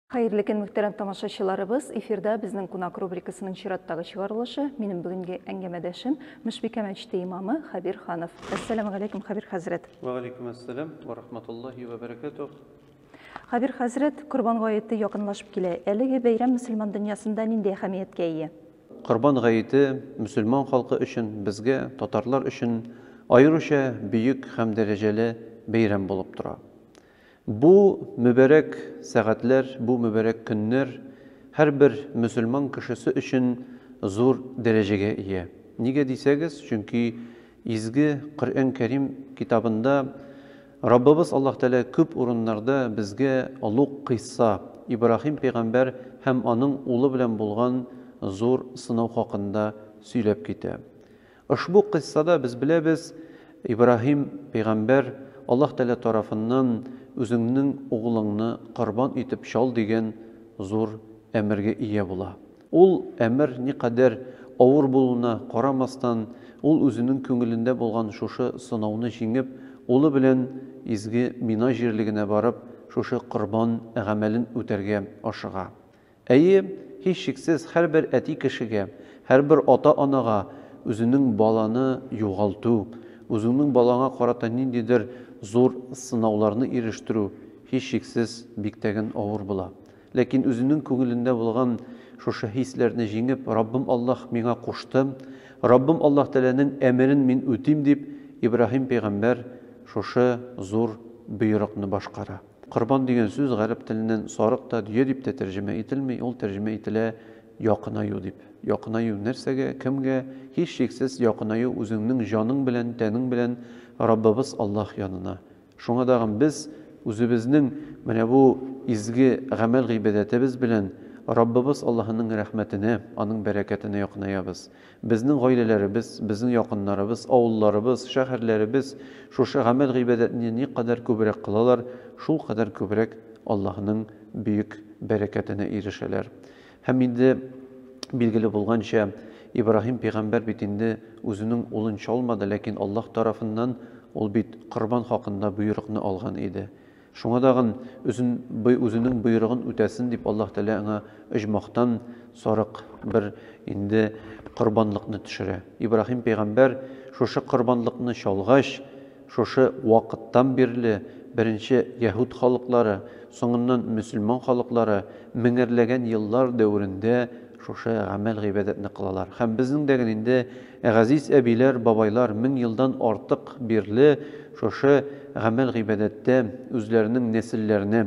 Хәерле көн, мөхтәрәм тамашачыларыбыз! Эфирда безнең кунак рубрикасының чираттагы чыгарылышы. Минем бүгенге әңгәмәдәшем Мөшбикә мәчете имамы Хәбир Ханов. Әссәламу галәйкүм, Хәбир хәзрәт! Вә галәйкүм әссәлам вә рахматуллаһи вә бәрәкәтүһ! Хәбир хәзрәт, Корбан гаете якынлашып килә. Әлеге бәйрәм мөселман дөньясында нинди әһәмияткә ия? Корбан гаете мөселман халкы өчен, безгә, татарлар өчен аеруча бөек һәм дәрәҗәле бәйрәм булып тора. Бу мөбарәк сәгатьләр, бу мөбарәк көннәр һәрбер мөселман кешесе өчен зур дәрәҗәгә ия. Нигә дисәгез, чөнки изге Коръән Кәрим китабында Раббыбыз Аллаһ Тәгалә күп урыннарда безгә олуг кыйсса, Ибраһим пәйгамбәр һәм аның улы белән булган зур сынау хакында сөйләп китә. Ошбу кыйссада, без беләбез, Ибраһим пәйгамбәр Аллаһ Тәгалә тарафыннан Үзеңнең углыңны корбан итеп чал дигән зур әмергә ия була. Ул әмер никадәр авыр булуына карамастан, ул үзенең күңелендә булган шушы сынауны җиңеп, улы белән изге Мина җирлегенә барып, шушы корбан гамәлен үтәргә ашыга. Әйе, һичшиксез, һәрбер әти кешегә, һәрбер ата-анага үзенең баланы югалту, үзеңнең балаңа карата ниндидер зур сынауларны ирештерү, һичшиксез, биктәген авыр була. Ләкин үзенең күңелендә булган шушы хисләрне җиңеп, Раббым Аллаһ миңа кушты, Раббым Аллаһ Тәгаләнең әмерен мин үтим, дип, Ибраһим пәйгамбәр шушы зур боерыкны башкара. Корбан дигән сүз гарәп теленнән сарык та, дөя дип тә тәрҗемә ителми, ул тәрҗемә ителә якынаю дип. Якынаю нәрсәгә, кемгә? Һичшиксез, якынаю үзеңнең җаның белән, тәнең белән Раббыбыз Аллаһ янына. Шуңа тагын без үзебезнең менә бу изге гамәл-гыйбадәтебез белән Раббыбыз Аллаһының рәхмәтенә, Аның бәрәкәтенә якынаябыз. Безнең гаиләләребез, безнең якыннарыбыз, авылларыбыз, шәһәрләребез шушы гамәл-гыйбадәтне никадәр күбрәк кылалар, шулкадәр күбрәк Аллаһының бөек бәрәкәтенә ирешәләр. Һәм инде билгеле булганча, Ибраһим пәйгамбәр бит инде үзенең улын чалмады, ләкин Аллаһ тарафыннан ул бит корбан хакында боерыкны алган иде. Шуңа тагын, үзен үзенең боерыгын үтәсен дип, Аллаһ Тәгалә аңа оҗмахтан сарык бер инде корбанлыкны төшерә. Ибраһим пәйгамбәр шушы корбанлыкны чалгач, Шушы вакыттан бирле беренче яһүд халыклары, соңыннан мөселман халыклары меңәрләгән еллар дәверендә шушы гамәл-гыйбадәтне кылалар. Һәм безнең дә инде газиз әбиләр, бабайлар мең елдан артык бирле шушы гамәл-гыйбадәттә үзләренең нәселләренә,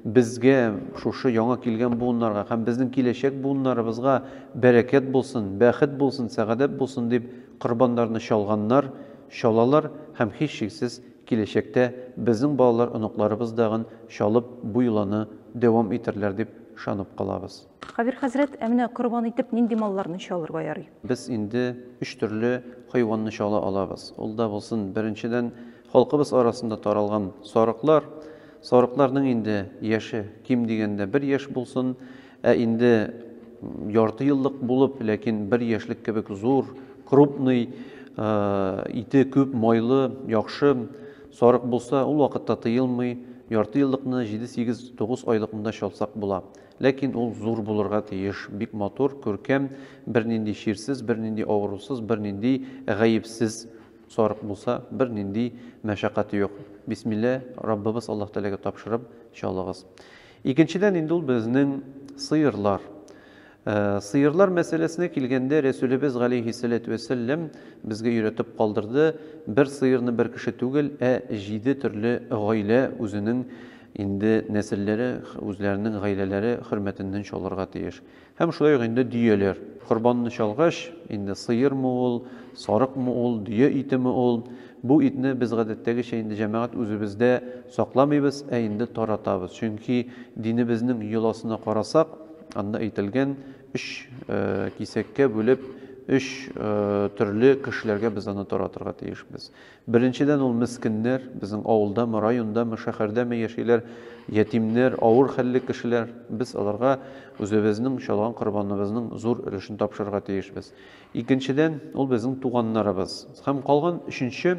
безгә, шушы яңа килгән буыннарга һәм безнең киләчәк буыннарыбызга бәрәкәт булсын, бәхет булсын, сәгадәт булсын дип Корбаннарны чалганнар, чалалар һәм һичшиксез киләчәктә безнең балалар оныкларыбыз дагын чалып бу йоланы дәвам итәрләр дип ышанып калабыз. Кабир хәзрәт, ә менә корбан итеп нинди малларны чалырга ярый? Без инде өч төрле хайванны чала алабыз. Ул да булсын, беренчедән, халкыбыз арасында таралган сарыклар. Сарыкларның инде яше ким дигәндә бер яшь булсын. Ә инде ярты еллык булып, ләкин бер яшьлек кебек зур, крупный, ите күп, майлы, яхшы сарык булса, ул вакытта тыелмый, ярты еллыкны җиде-сигез, тугыз айлык монда чалсак була. Ләкин ул зур булырга тиеш, бик матур, күркәм, бернинди чирсез, бернинди авырусыз, бернинди гаепсез сарык булса, бернинди мәшәкате юк. Бисмилла, Раббыбыз Аллаһ Тәгаләгә тапшырып чалыгыз. Икенчедән инде ул безнең сыерлар. Сыерлар мәсьәләсенә килгәндә, Рәсүлебез галәйһиссәләтү вәссәлләм безгә өйрәтеп калдырды, бер сыерны бер кеше түгел, ә җиде төрле гаилә үзенең инде нәселләре, үзләренең гаиләләре хөрмәтеннән чалырга тиеш. Һәм шулай ук инде дөяләр. Корбанны чалгач, инде сыермы ул, сарыкмы ул, дөя итеме ул, бу итне без гадәттәгечә инде җәмәгать үзебездә сакламыйбыз, ә инде таратабыз. Чөнки динебезнең йоласына карасак, анда әйтелгән, өч кисәккә бүлеп, өч төрле кешеләргә без аны таратырга тиешбез. Беренчедән, ул мескеннәр, безнең авылдамы, райондамы, шәһәрдәме яшиләр, ятимнәр, авыр хәлле кешеләр. Без аларга үзебезнең чалган корбаныбызның зур өлешен тапшырырга тиешбез. Икенчедән, ул безнең туганнарыбыз. Һәм калган өченче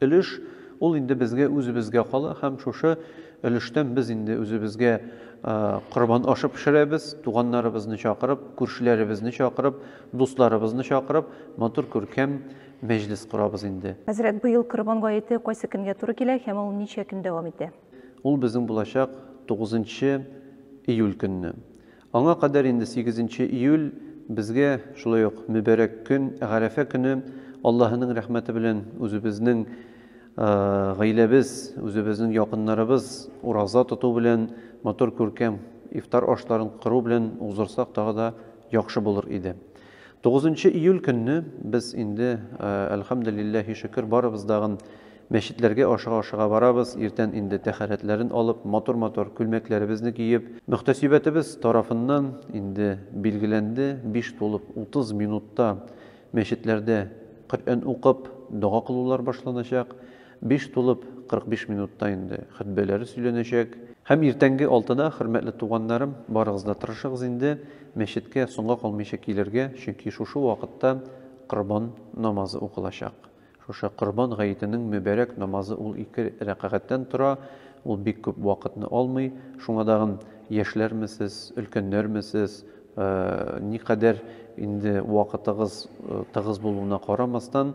өлеш, ул инде безгә үзебезгә кала, һәм шушы өлештән без инде үзебезгә корбан ашы пешерәбез, туганнарыбызны чакырып, күршеләребезне чакырып, дусларыбызны чакырып, матур күркәм мәҗлес корабыз инде. Хәзрәт, быел Корбан гаете кайсы көнгә туры килә һәм ул ничә көн дәвам итә? Ул безнең булачак тугызынчы июль көнне. Аңа кадәр инде сигезенче июль безгә шулай ук мөбарәк көн, Гарәфә көне Аллаһының рәхмәте белән үзебезнең гаиләбез, үзебезнең якыннарыбыз ураза тоту белән, матур күркәм ифтар ашларын кыру белән уздырсак тагы да яхшы булыр иде. Тугызынчы июль көнне без инде, әлхәмделилләһи шөкер, барыбыз дагын мәчетләргә ашыга-ашыга барабыз, иртән инде тәһарәтләрен алып, матур-матур күлмәкләребезне киеп, мөхтәсибәтебез тарафыннан инде билгеләнде, биш тулып утыз минутта мәчетләрдә Коръән укып, дога кылулар башланачак. Биш тулып 45 минутта инде хөтбәләре сөйләнәчәк. Һәм иртәнге алтыда, хөрмәтле туганнарым, барыгыз да тырышыгыз инде мәчеткә соңга калмыйча килергә, чөнки шушы вакытта Корбан намазы укылачак. Шушы Корбан гаетенең мөбарәк намазы ул ике рәкагатьтән тора, ул бик күп вакытны алмый. Шуңа тагын яшьләрме сез, өлкәннәрме сез, никадәр инде вакытыгыз тыгыз булуына карамастан,